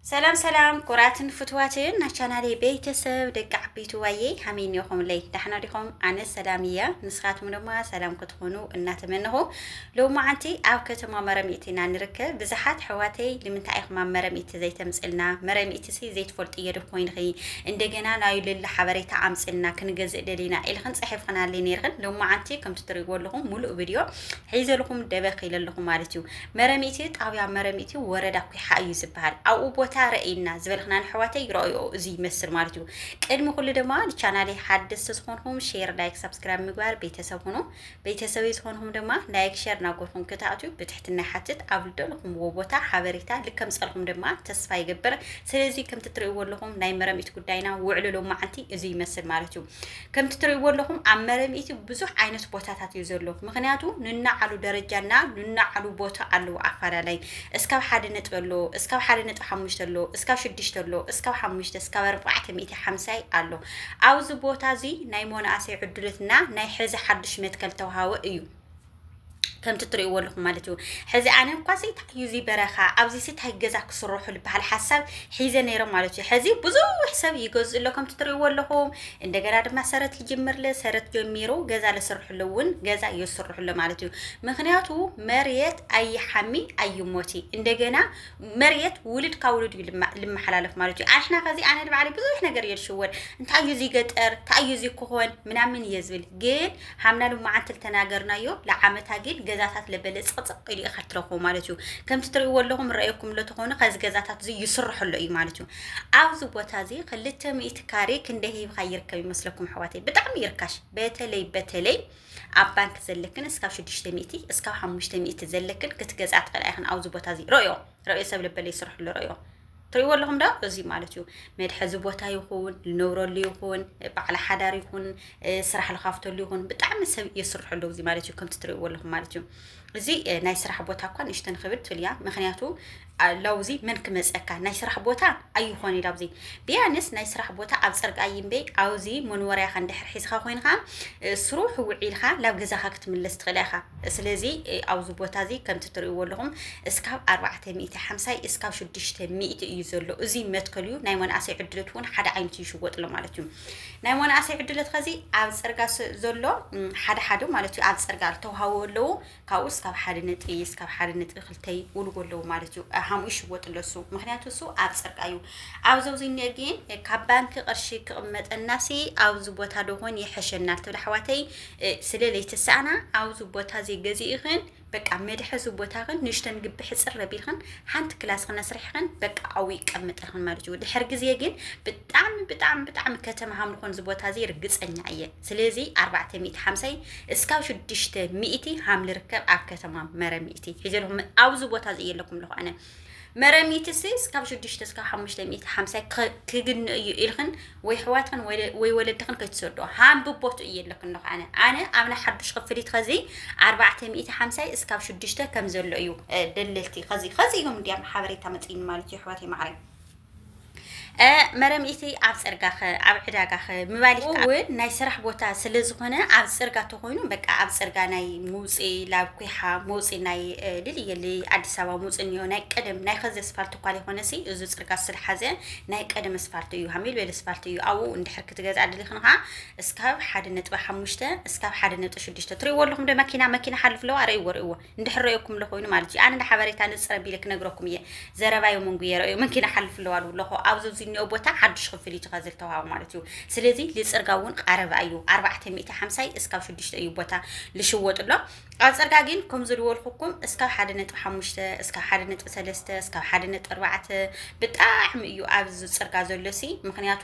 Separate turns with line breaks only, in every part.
ሰላም ሰላም ኩራትን ፍትዋትን ናይ ቻናሌ ቤተሰብ ደቂ ዓበይቲ ዋየ ሃመይ ኒኹምለይ ዳሕና ዲኹም ኣነ ሰላም እያ ንስኻትኩም ድማ ሰላም ክትኾኑ እናተመንኹ ሎማዓንቲ ኣብ ከተማ መረሚእቲ ኢና ንርከብ ብዝሓት ሕዋተይ ንምንታይ ኢኹም ኣብ መረሚእቲ ዘይተምፅልና መረሚእቲ ሲ ዘይትፈልጡ እየ ዶ ኮይንኺ እንደገና ናይ ልሊ ሓበሬታ ኣምፅልና ክንገዝእ ደሊና ኢልኽን ፅሒፍኽናለይ ነይርኽን ሎማዓንቲ ከምቲ ትሪእዎ ኣለኹም ሙሉእ ቪድዮ ሒዘልኹም ደበኽ ኢለልኹም ማለት እዩ መረሚቲ ጣብያ መረሚቲ ወረዳ ኩሓ እዩ ዝበሃል ኣብኡ ቦታ ረእይና ዝበልክና ንሕዋተይ ረእዮ እዚ ይመስል ማለት እዩ ቅድሚ ኩሉ ድማ ንቻናለይ ሓደስቲ ዝኾንኹም ሼር ላይክ ሳብስክራይብ ምግባር ቤተሰብ ሁኑ ቤተሰበይ ዝኾንኹም ድማ ላይክ ሸር ናጎርኹም ክትኣትዩ ብትሕትና ሓትት ኣብ ልደልኹምዎ ቦታ ሓበሬታ ልከም ፀልኹም ድማ ተስፋ ይገብር ስለዚ ከምቲ ትርእይዎ ኣለኹም ናይ መረሚት ጉዳይና ውዕሉ ሎማዓንቲ እዚ ይመስል ማለት እዩ ከምቲ ትርእይዎ ኣለኹም ኣብ መረብ ኢትዮ ብዙሕ ዓይነት ቦታታት እዩ ዘሎ ምክንያቱ ንናዓሉ ደረጃና ንናዓሉ ቦታ ኣለዎ ኣፋላላይ እስካብ ሓደ ነጥቢ ኣሎ እስካብ ሓደ ነጥቢ ሓሙሽተ ኣሎ እስካብ ሽዱሽተ ኣሎ እስካብ ሓሙሽተ እስካብ ኣርባዕተ ሚእቲ ሓምሳይ ኣሎ ኣብዚ ቦታ እዚ ናይ ሞናእሰይ ዕድሎትና ናይ ሕዚ ሓዱሽ መትከል ተውሃወ እዩ ከምቲ እትርእይዎ ኣለኹም ማለት እዩ ሕዚ ኣነ እኳሲ እንታይ እዩ እዚ በረኻ ኣብዚ ሲ እንታይ ገዛ ክስርሑ ዝበሃል ሓሳብ ሒዘ ነይሮም ማለት እዩ ሕዚ ብዙሕ ሰብ ይገዝእ ኣሎ ከምቲ እትርእይዎ ኣለኹም እንደገና ድማ ሰረት ይጅምር ለ ሰረት ጀሚሩ ገዛ ለስርሕሉ እውን ገዛ የስርሕሎ ማለት እዩ ምክንያቱ መሬት ኣይሓሚ ኣይሞቲ እንደገና መሬት ውልድ ካብ ውልድ እዩ ልማ- ልመሓላለፍ ማለት እዩ ኣንሕና ከዚ ኣነ ንባዕለይ ብዙሕ ነገር እየ ዝሽወድ እንታይ እዩ እዚ ገጠር እንታይ እዩ እዚ ክኾን ምናምን እየ ዝብል ግን ሃምና ሎማዓንቲ ልተናገርናዮ ለዓመታ ግን ገዛታት ለበለ ፅቕፅቕ ኢሉ ኢኻ ትረኽቦ ማለት እዩ ከምቲ ትርእይዎ ኣለኹም ረኣየኩም ሎ ተኾኑ ከዚ ገዛታት እዚ ይስርሐሎ እዩ ማለት እዩ ኣብዚ ቦታ እዚ ክልተ ሚእቲ ካሬ ክንደይ ሂብካ ይርከብ ይመስለኩም ኣሕዋተይ ብጣዕሚ ይርካሽ በተለይ በተለይ ኣብ ባንክ ዘለክን እስካብ ሽዱሽተ ሚእቲ እስካብ ሓሙሽተ ሚእቲ ዘለክን ክትገዝኣ ትኽእላ ኢኽን ኣብዚ ቦታ እዚ ረዮ ረዮ ሰብ ልበለ ይስርሕሉ ረዮ ትሪእዎ ኣለኹም ዶ እዚ ማለት እዩ መድሐዚ ቦታ ይኹን ንነብረሉ ይኹን በዓል ሓዳር ይኹን ስራሕ ልካፍተሉ ይኹን ብጣዕሚ ሰብ የስርሐሉ እዚ ማለት እዩ ከምቲ ትሪእዎ ኣለኹም ማለት እዩ እዚ ናይ ስራሕ ቦታ እኳ ንእሽተን ክብድ ትብል እያ ምክንያቱ ላውዚ መን ክመፀካ ናይ ስራሕ ቦታ ኣይኾን እዩ ላብዚ ቢያንስ ናይ ስራሕ ቦታ ኣብ ፅርግ ኣይምበ ኣብዚ መኖርያኻ እንድሕር ሒዝካ ኮይንካ ስሩሕ ውዒልካ ላብ ገዛኻ ክትምለስ ትኽእል ኢኻ ስለዚ ኣብዚ ቦታ እዚ ከምቲ ትርእይዎ ኣለኹም እስካብ ኣርባዕተ ሚእቲ ሓምሳይ እስካብ ሽዱሽተ ሚእቲ እዩ ዘሎ እዚ መትከል እዩ ናይ መናእሰይ ዕድለት እውን ሓደ ዓይነት እዩ ይሽወጥሎ ማለት እዩ ናይ መናእሰይ ዕድለት ከዚ ኣብ ፅርጋ ዘሎ ሓደ ሓደ ማለት እዩ ኣብ ፅርጋ ዝተውሃቡ ኣለዉ ካብኡ እስካብ ሓደ ነጥቢ እስካብ ሓደ ነጥቢ ክልተ ይውልዎ ኣለዉ ማለት እዩ ሃምኡ ይሽወጥ ኣሎ እሱ ምክንያቱ እሱ ኣብ ፅርጋ እዩ ኣብዚ ኣብዚ እኒኦ ግን ካብ ባንኪ ቅርሺ ክቕመጠናሲ ኣብዚ ቦታ ደኾን ይሐሸናል ትብል ኣሕዋተይ ስለ ለይተሳእና ኣውዚ ቦታዚ ገዚኢኽን በቃ መድሐዚ ቦታኽን ንሽተን ግቢ ሕጽር ኣቢልኽን ሓንቲ ክላስ ክነስርሕኽን በቃ ኣው ይቀምጠኽን ማለት እዩ። ድሕር ግዜ ግን ብጣዕሚ ብጣዕሚ ብጣዕሚ ከተማ ሃምልኾን እዚ ቦታዚ ርግጸኛ እየ። ስለዚ ኣርባዕተ ሚእቲ ሓምሳይ እስካብ ሽዱሽተ ሚእቲ ሃምልርከብ ኣብ ከተማ መረ ሚእቲ ሒዘልኹም ኣውዚ ቦታዚ እየ ኣለኩም ኣለኹ ኣነ መረሚትሲ እስካብ ሽዱሽተ እስካብ ሓሙሽተ ሚእቲ ሓምሳይ ክግንእ እዩ ኢልክን ወይ ሕዋትክን ወይ ወለድክን ከይትሰዶ ሃንብቦቱ እየ ኣለክን ኣለኹ ኣነ ኣነ ኣብና ሓዱሽ ክፍሊት ከዚ ኣርባዕተ ሚእቲ ሓምሳይ እስካብ ሽዱሽተ ከም ዘሎ እዩ ደለልቲ ከዚ ከዚ እዮም እንዲያም ሓበሬታ መፅኢኒ ማለት እዩ ሕዋት ማዕረይ መረምኢቲ ኣብ ፅርጋኸ ኣብ ዕዳጋኸ ምባል እውን ናይ ስራሕ ቦታ ስለ ዝኾነ ኣብ ፅርጋ ተኾይኑ በቃ ኣብ ፅርጋ ናይ ምውፅኢ ላብ ኩሓ መውፅኢ ናይ ልልየሊ ኣዲስ ኣበባ መውፅኢ እኒኦ ናይ ቀደም ናይ ከዚ ኣስፋልት እኳ ዘይኮነሲ እዚ ፅርጋ ስለሓዘ ናይ ቀደም ኣስፋልት እዩ ሃሚል ቤል ኣስፋልት እዩ ኣብኡ እንድሕር ክትገዝኣ ድሊ ክንኻ እስካብ ሓደ ነጥቢ ሓሙሽተ እስካብ ሓደ ነጥቢ ሽዱሽተ ትሪእዎ ኣለኹም ዶ መኪና መኪና ሓልፍ ኣለዋ ርእይዎ ርእይዎ እንድሕር ረእኩምለ ኮይኑ ማለት እዩ ኣነ ንሓበሬታ ንፅር ኣቢለ ክነግረኩም እየ ዘረባዮ መንጉ የረእዩ ምንኪ ንሓልፍ ኣለዋ ኣለኹ ኣብዚ እዚ እኒኦ ቦታ ሓዱሽ ክፍል እዩ ተኸዝል ተዋሃቡ ማለት እዩ ስለዚ ልፅርጋ እውን ቃረባ እዩ ኣርባዕተ ሚእቲ ሓምሳይ እስካብ ሽዱሽተ እዩ ቦታ ልሽወጥ ኣሎ ኣብ ፅርጋ ግን ከም ዝልወልኩኩም እስካብ ሓደ ነጥቢ ሓሙሽተ እስካብ ሓደ ነጥቢ ሰለስተ እስካብ ሓደ ነጥቢ ኣርባዕተ ብጣዕሚ እዩ ኣብዚ ፅርጋ ዘሎ ሲ ምክንያቱ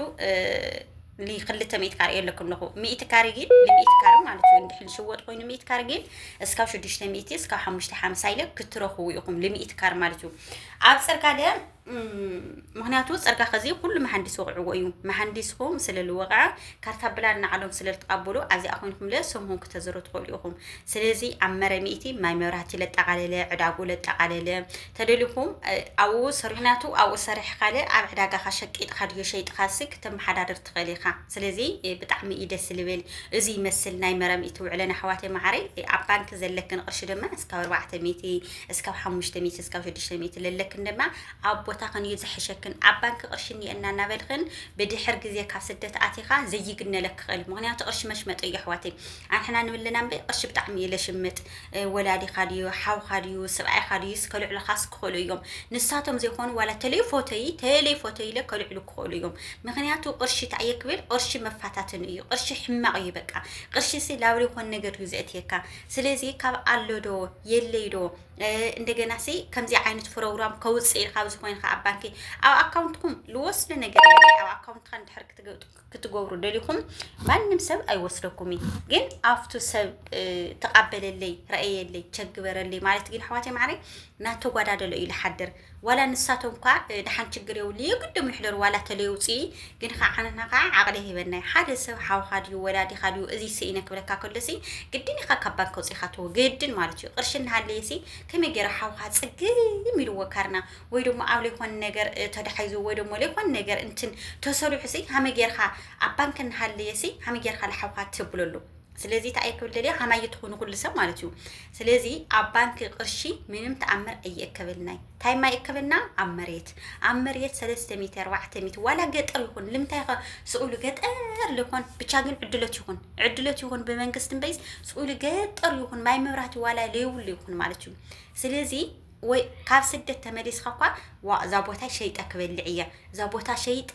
ንክልተ ሚእቲ ካሬ የለኩም ኣለኹ ሚእቲ ካሬ ግን ንሚእቲ ካሬ ማለት እዩ እንድሕር ዝሽወጥ ኮይኑ ሚእቲ ካሬ ግን እስካብ ሽዱሽተ ሚእቲ እስካብ ሓሙሽተ ሓምሳ ኢለ ክትረኽቡ ኢኹም ንሚእቲ ካሬ ማለት እዩ ኣብ ፅርጋ ደ ምክንያቱ ፅርጋ ከዚ ኩሉ መሃንዲስ ወቕዕዎ እዩ መሃንዲስኹም ስለ ዝወቕዐ ካርታ ብላን ንዓሎም ስለ ዝትቐበሉ ኣብዚኣ ኮይንኩም ለ ስምኩም ክተዝሩ ትኽእሉ ኢኹም ስለዚ ኣብ መረ ሚእቲ ማይ መብራህቲ ለጠቓለለ ዕዳጉ ለጠቓለለ ተደሊኹም ኣብኡ ስርሑ ናቱ ኣብኡ ሰርሕ ካልእ ኣብ ዕዳጋኻ ሸቂጥኻ ድዩ ሸይጥኻሲ ክተመሓዳድር ትኽእል ኢኻ ስለዚ ብጣዕሚ እዩ ደስ ልብል እዚ ይመስል ናይ መረም ኢቲ ውዕለን ኣሕዋተይ መዓረይ ኣብ ባንኪ ዘለክን ቅርሺ ድማ እስካብ ኣርባዕተ ሚእቲ እስካብ ሓሙሽተ ሚእቲ እስካብ ሽዱሽተ ሚእቲ ለለክን ድማ ኣብ ቦታኽን እዩ ዝሕሸክን ኣብ ባንኪ ቅርሺ እኒኤና እናበልኽን ብድሕር ግዜ ካብ ስደት ኣቲኻ ዘይግነለክ ክኽእል ምክንያቱ ቅርሺ መሽመጢ እዩ ኣሕዋተይ ኣንሕና ንብልና እምበይ ቅርሺ ብጣዕሚ እዩ ለሽምጥ ወላዲኻ ድዩ ሓውካ ድዩ ስብኣይካ ድዩስ ከልዕሉኻስ ክኽእሉ እዮም ንሳቶም ዘይኮኑ ዋላ ተሌፎተይ ተሌፎተይ ኢለ ከልዕሉ ክኽእሉ እዮም ምክንያቱ ቅርሺ እንታይ እየ ክብል ቅርሺ መፋታትን እዩ ቅርሺ ሕማቕ እዩ በቃ ቅርሺ ሲ ላብሪ ይኾን ነገር እዩ ዘእትየካ ስለዚ ካብ ኣሎ ዶ የለይ ዶ እንደገና ሲ ከምዚ ዓይነት ፕሮግራም ከውፅእ ኢልካ ኣብዚ ኮይንካ ኣብ ባንኪ ኣብ ኣካውንትኩም ልወስደ ነገር የለ ኣብ ኣካውንትካ እንድሕር ክትገብጡ ክትገብሩ ደሊኹም ማንም ሰብ ኣይወስደኩም እዩ ግን ኣብቱ ሰብ ተቃበለለይ ረእየለይ ቸግበረለይ ማለት ግን ኣሕዋተይ ማዕረይ ናተጓዳደሎ እዩ ዝሓድር ዋላ ንሳቶም ኳ ድሓን ችግር የብሉ የግድም ንሕደሩ ዋላ ተለየውፅ ግን ከዓ ዓንና ከዓ ዓቕሊ ሂበናይ ሓደ ሰብ ሓውካ ድዩ ወላዲካ ድዩ እዚ ስኢነ ክብለካ ከሎሲ ግድን ኢካ ካብ ባንክ ውፅኢካ ተወ ግድን ማለት እዩ ቅርሺ እናሃለየሲ ከመይ ገይረ ሓውካ ፅግም ኢልዎ ካርና ወይ ደሞ ኣብ ለይኮን ነገር ተዳሒዙ ወይ ደሞ ለይኮን ነገር እንትን ተሰሪሑሲ ሃመ ጌርካ ኣብ ባንክ እናሃለየሲ ሃመ ጌርካ ለሓውካ ተብለሉ ስለዚ እንታይ እየ ክብል ደልየ ሃማየ ትኹኑ ኩሉ ሰብ ማለት እዩ ስለዚ ኣብ ባንኪ ቅርሺ ምንም ተኣምር ኣይእከበልናይ እንታይ ማይእከበልና ኣብ መሬት ኣብ መሬት ሰለስተ ሚእቲ ኣርባዕተ ሚእቲ ዋላ ገጠር ይኹን ልምንታይ ኸ ስኡሉ ገጠር ልኾን ብቻ ግን ዕድሎት ይኹን ዕድሎት ይኹን ብመንግስቲ እምበይስ ስኡሉ ገጠር ይኹን ማይ መብራህቲ ዋላ ለይብሉ ይኹን ማለት እዩ ስለዚ ወይ ካብ ስደት ተመሊስካ እኳ ዋእ እዛ ቦታ ሸይጠ ክበልዕ እየ፣ እዛ ቦታ ሸይጠ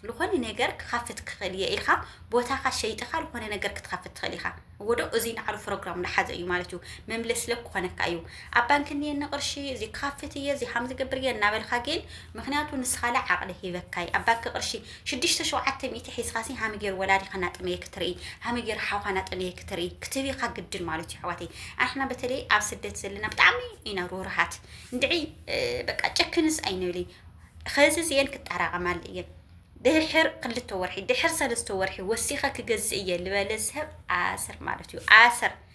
ዝኾነ ነገር ክኸፍት ክኽእል እየ ኢልካ ቦታኻ ሸይጥኻ ዝኾነ ነገር ክትኸፍት ትኽእል ኢኻ። እዎ ዶ እዙይ ንዓሉ ፕሮግራም ዝሓዘ እዩ ማለት እዩ። መምለሲ ለብ ክኾነካ እዩ። ኣብ ባንኪ እኒየኒ ቅርሺ እዚ ክኸፍት እየ እዚ ሃም ዝገብር እየ እናበልካ ግን ምክንያቱ ንስኻለ ዓቕሊ ሂበካይ ኣብ ባንኪ ቅርሺ ሽዱሽተ ሸውዓተ ሚእቲ ሒዝኻሲ ሃመ ጌሩ ወላዲኻ ናጠመየ ክትርኢ ሃመ ጌሩ ሓውኻ ናጠመየ ክትርኢ ክትብይኻ ግድን ማለትዩ ኣሕዋተይ ኣንሕና በተለይ ኣብ ስደት ዘለና ብጣዕሚ ኢና ሩሩሃት እንድዒ በቃ ጨክንስ ኣይንብሊ ኸዚ እዚኤን ክጣራቐማሉ እየን ድሕር ክልተ ወርሒ ድሕር ሰለስተ ወርሒ ወሲኸ ክገዝእ እየ ልበለ ሰብ ኣሰር ማለት እዩ ኣሰር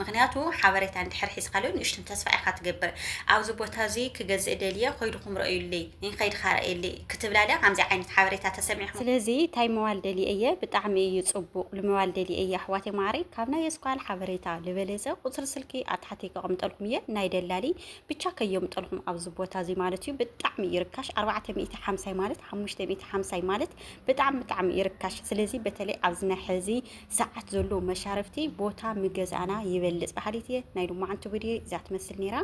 ምኽንያቱ ሓበሬታ እንድሕር ሒዝካ ሎን ንእሽቱን ተስፋ ኢኻ ትገብር ኣብዚ ቦታ እዚ ክገዝእ ደልየ ኾይድኹም ረእዩልይ እይ ኸይድኻ ረእየልይ ክትብላለ ከምዚ ዓይነት ሓበሬታ ተሰሚዕኹም ስለዚ ታይ መዋል ደልየ እየ ብጣዕሚ እዩ ፅቡቅ ልመዋል ደልየ እየ ኣሕዋተይ ማዓረይ ካብ ናይ የስኳል ሓበሬታ ልበለፀ ቁፅሪ ስልኪ ኣብ ታሕቲ ከቀምጠልኩም እየ ናይ ደላሊ ብቻ ከየምጠልኹም ኣብዚ ቦታ እዚ ማለት እዩ ብጣዕሚ እዩ ርካሽ ኣርባዕተ ሚእቲ ሓምሳይ ማለት ሓሙሽተ ሚእቲ ሓምሳይ ማለት ብጣዕሚ ብጣዕሚ እዩ ርካሽ ስለዚ በተለይ ኣብዚ ናይ ሕዚ ሰዓት ዘሎ መሻርፍቲ ቦታ ምገዛእና ይበልፅ በሃሊት እየ ናይ ሎማዓንቲ ቪድዮ እዛ ትመስል ነይራ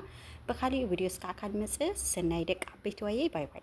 ብካሊእ ቪድዮ እስካዕ ካልመፅእ ሰናይ ደቂ ዓበይቲ ዋየይ ባይ ባይ